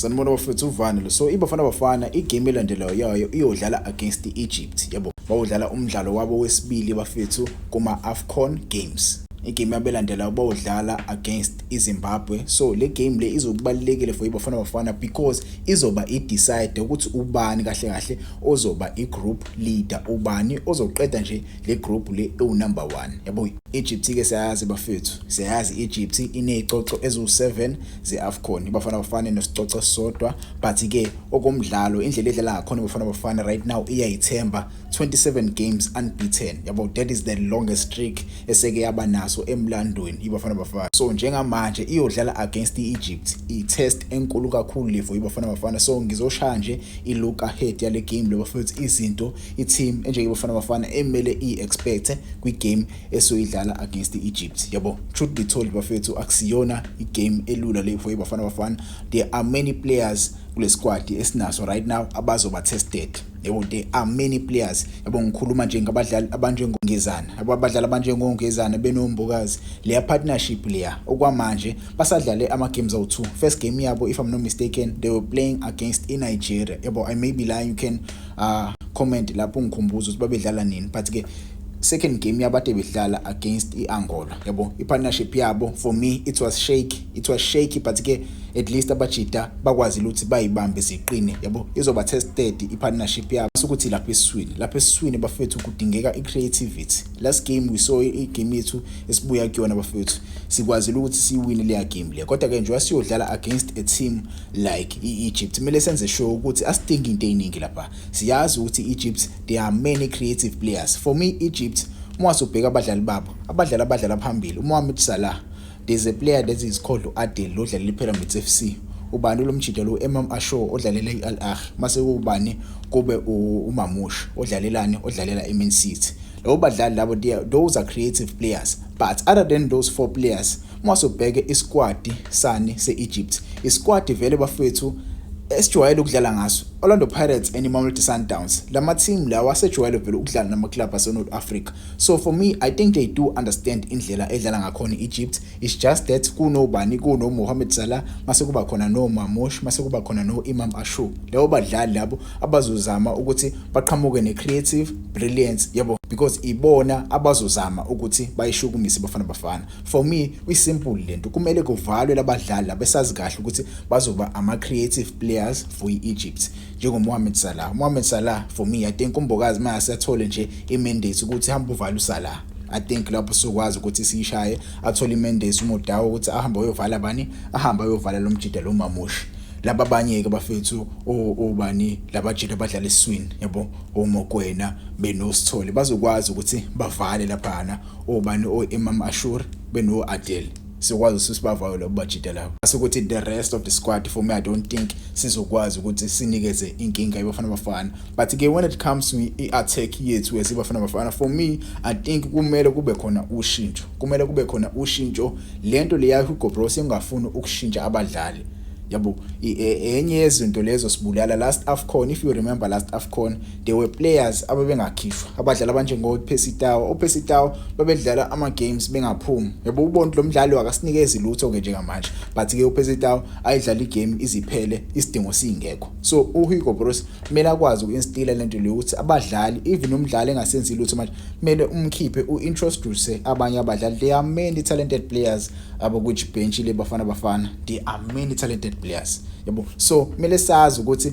Sanibona bafethu uvani lo. So iBafana Bafana igame elandelayo yayo iyodlala against i-Egypt. Yabo. Bawudlala umdlalo wabo wesibili bafethu kuma Afcon Games. Igame abelandelayo bawudlala against iZimbabwe. So le game le izokubalekile for iBafana Bafana because izoba i-decide ukuthi ubani kahle kahle ozoba i-group leader, ubani ozoqeda nje le group le ewu number 1. Yabo. Egypt ke siyayazi bafethu. Siyayazi Egypt inezicoco eziwu7 ze-afcon ibafana bafane nesicoco sisodwa but-ke okomdlalo indlela edlala ngakhona ibafana bafana right now iyayithemba 27 games unbeaten yabo that is the longest streak eseke yaba naso emlandweni ibafana bafana so njengamanje iyodlala against i-egypt i-test enkulu kakhulu levo ibafana bafana so ngizoshaya nje i-look ahead yale game lobafowethu izinto i-team enjenge bafana bafana emele i-expecte kwi-game esoyidlala against i-egypt yabo truth be told bafethu akusiyona igame elula le for ibafana bafana there are many players kule squad esinaso right now abazoba tested yabo there are many players yabo ngikhuluma nje ngabadlali abanjengongezana yabo abadlali abanjengongezana benombokazi leya partnership leya okwamanje basadlale ama games awu2 first game yabo if i'm not mistaken they were playing against in Nigeria yabo i may be lying you can uh comment lapho ngikhumbuza ukuthi babedlala nini but ke second game yabo ade bedlala against i-angola yabo i-partnership yabo for me it was shake it was shaky but ke at least abajida bakwazile ukuthi bayibambe ziqine yabo izoba tested i-partnership yabo ukuthi lapha esiswini lapha esiswini bafethu kudingeka i-creativity last game we saw i-game yethu esibuya kuyona bafethu sikwazile ukuthi siyiwine leya game le kodwa-ke njengoba siyodlala against a team like i-egypt kumele senze sure ukuthi asidingi into ey'ningi lapha siyazi ukuthi i-egypt there are many creative players for me egypt uma wasubheka abadlali babo abadlali abadlala phambili umohamed salah there's a player that is called u-adel lo dlalela ipyramids f c ubani lo mjida lo u-emam ashore odlalela i-al ahi mase kuwubani kube umamush odlalelani odlalela i-main city labo badlali labo those are creative players but other than those four players Uma sobheke isikwadi sani se-Egypt, isikwadi vele bafethu esijwayele ukudlala ngaso Orlando Pirates and Mamelodi Sundowns lama team lawa asejwayele vele ukudlala nama club ase North Africa so for me i think they do understand indlela edlala ngakhona Egypt it's just that kuno bani kuno Mohamed Salah mase kuba khona no Mamosh mase kuba khona no Imam Ashu labo badlali labo abazozama ukuthi baqhamuke ne creative brilliance yabo because ibona abazozama ukuthi bayishukumise bafana bafana For me kwi simple lento kumele kuvalwe labadlali labesazi kahle ukuthi bazoba ama creative players for iEgypt njengo Mohamed Salah. Mohamed Salah for me I think umbokazi mase athole nje i mandate ukuthi hamba uvale uSalah. I think lapho sokwazi ukuthi siyishaye athole imendesi umodawo ukuthi ahambe uyovala bani ahambe uyovala lo mjida lo mamushi laba abanye ke bafethu obani labajita abadlala eswini yabo omokwena benosithole bazokwazi ukuthi bavale laphana obani o Imam Ashur beno Adel sikwazi usibavayo labo bajita labo asikuthi the rest of the squad for me i don't think sizokwazi ukuthi sinikeze inkinga ibafana bafana but ke when it comes to i-attack yethu as ibafana bafana for me i think kumele kube khona ushintsho kumele kube khona ushintsho lento leya Hugo Broos engafuni ukushintsha abadlali yabo e, enye yezinto lezo sibulala last afcon if you remember last afcon there were players ababengakhishwa abadlali abanjengoPercy Tau uPercy Tau babedlala ama games bengaphumi yabo ubona lo mdlali wakasinikezi lutho ke njengamanje but ke uPercy Tau ayidlala igame iziphele isidingo singekho so uHugo Broos kumele akwazi ukinstila lento leyo ukuthi abadlali even umdlali engasenzi lutho manje kumele umkhiphe uintroduce abanye abadlali they are many talented players abo which bench le bafana bafana they are many talented players yabo so kumele sazi ukuthi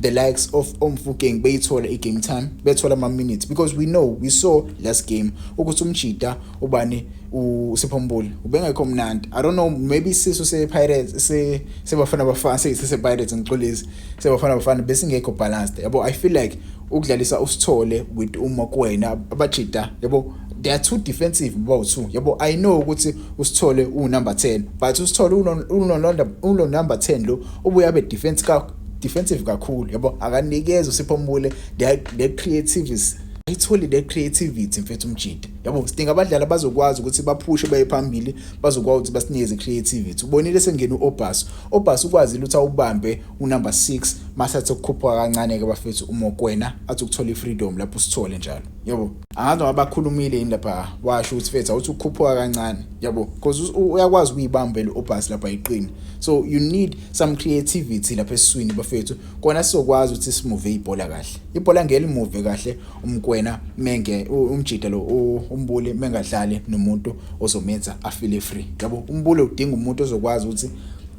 the likes of omfukeng beyithola i-game time bethola ama-minutes because we know we saw last game ukuthi umjida ubani usiphombuli ubengekho mnandi i don't know maybe isisu sepirates sebafana bafana sesepirates ngixolisi sebafana bafana besingekho balanced yabo i feel like ukudlalisa usithole with uma kuwena abajida yabo they are too defensive bow two yabo i know ukuthi usithole unumber 10 but usithole uno number 10 lo ubuya be defense ka defensive kakhulu yabo akanikeza usipho mbule the creativities ayitholi le creativity mfethu umjida yabo sidinga abadlali abazokwazi ukuthi baphushe baye phambili bazokwazi ukuthi basinikeze creativity ubonile sengena uObas Obas ukwazile ukuthi awubambe unumber 6 masathi ukukhupha kancane ke bafethu uMokwena athi ukuthola ifreedom lapho sithole njalo yabo angazi abakhulumile yini lapha washo ukuthi fethu awuthi ukukhupha kancane yabo because uyakwazi ukuyibambela uObas lapha iqini so you need some creativity lapha eswini bafethu kona sizokwazi ukuthi simuve ibhola kahle ibhola ngeke limuve kahle umkwena menge umjida lo umbuli mengadlali nomuntu ozomenza afile free yabo umbuli udinga umuntu ozokwazi ukuthi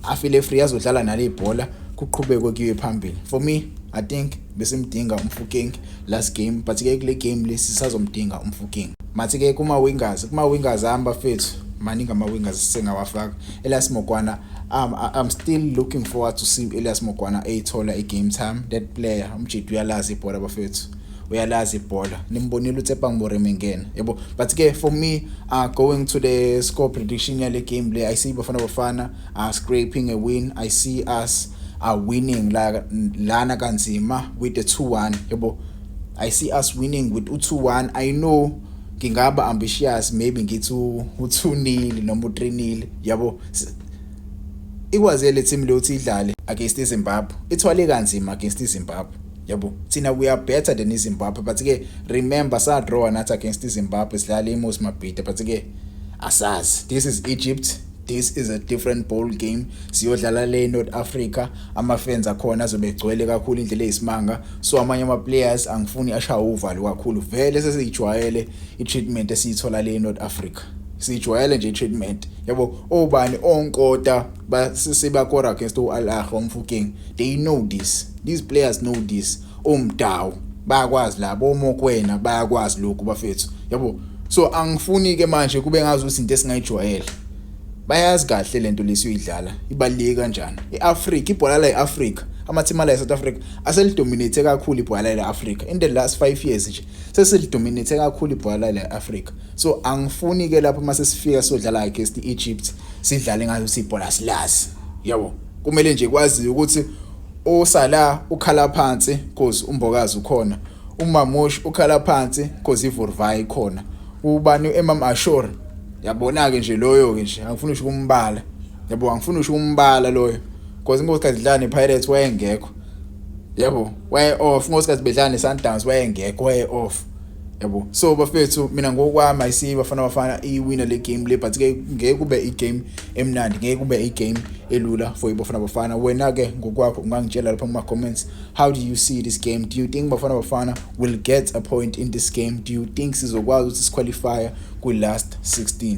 afile free azodlala nale ibhola kuqhubekwe kuye phambili for me i think besimdinga umfuking last game but ke kule game lesi sazomdinga umfuking mathi ke kuma wingers kuma wingers hami bafethu maningi ama wingers sengawafaka Elias Mokwana um, I'm still looking forward to see Elias Mokwana eyithola i game time that player umjidi uyalazi ibhola bafethu uyalazi ibhola nimbonile uTsepang Moremi ngena yebo but ke for me uh, going to the score prediction yale game le ayisiyi bafana bafana are scraping a win i see us are winning la lana kanzima with the 2-1 yebo i see us winning with u2-1 i know ngingaba ambitious maybe ngithi u2 nil noma u3 nil yabo ikwaze le team leyo ukuthi idlale against iZimbabwe ithwale kanzima against iZimbabwe yabo thina we are better than iZimbabwe but ke remember sa draw nathi against iZimbabwe sidlala iMos Mabhida but ke asazi this is Egypt this is a different ball game siyodlala le North Africa ama fans akhona azobe egcwele kakhulu indlela eyisimanga so amanye ama players angifuni ashaya uvalo kakhulu vele sesijwayele i treatment esiyithola le North Africa sijwayele nje treatment yabo obani onkota basisibakora against uAl Ahly umfuking they know this these players know this omdawu bayakwazi labo omokwena bayakwazi lokhu bafethu yabo so angifuni ke manje kube ngazi ukuthi into esingayijwayele bayazi kahle lento lesiyidlala ibalike kanjani iAfrica ibhola la eAfrica amathima la eSouth Africa aselidominate kakhulu ibhola la eAfrica in the last 5 years nje sesilidominate kakhulu ibhola la eAfrica so angifuni ke lapho mase sifika sodlala against iEgypt sidlale ngayo sibhola silazi yabo kumele nje kwazi ukuthi USalah ukhala phansi cause uMbokazi ukhona. UMamush ukhala phansi cause iVurvai ikhona. Ubani uImam Ashur? Yabona-ke nje loyo-ke nje angifuni usho ukumbala. Yabo angifuni usho ukumbala loyo. Cause inkosikazi idlala nePirates wayengekho. Yabo, way off. Inkosikazi bedlala neSundowns wayengekho, way off. yabo so bafethu mina ngokwami ayisiyi bafana bafana iwina le game le but ke ngeke kube igame emnandi ngeke kube igame elula for ibafana bafana wena ke ngokwakho ungangitshela lapha kuma comments how do you see this game do you think bafana bafana will get a point in this game do you think sizokwazi ukuthi siqualify kwi last 16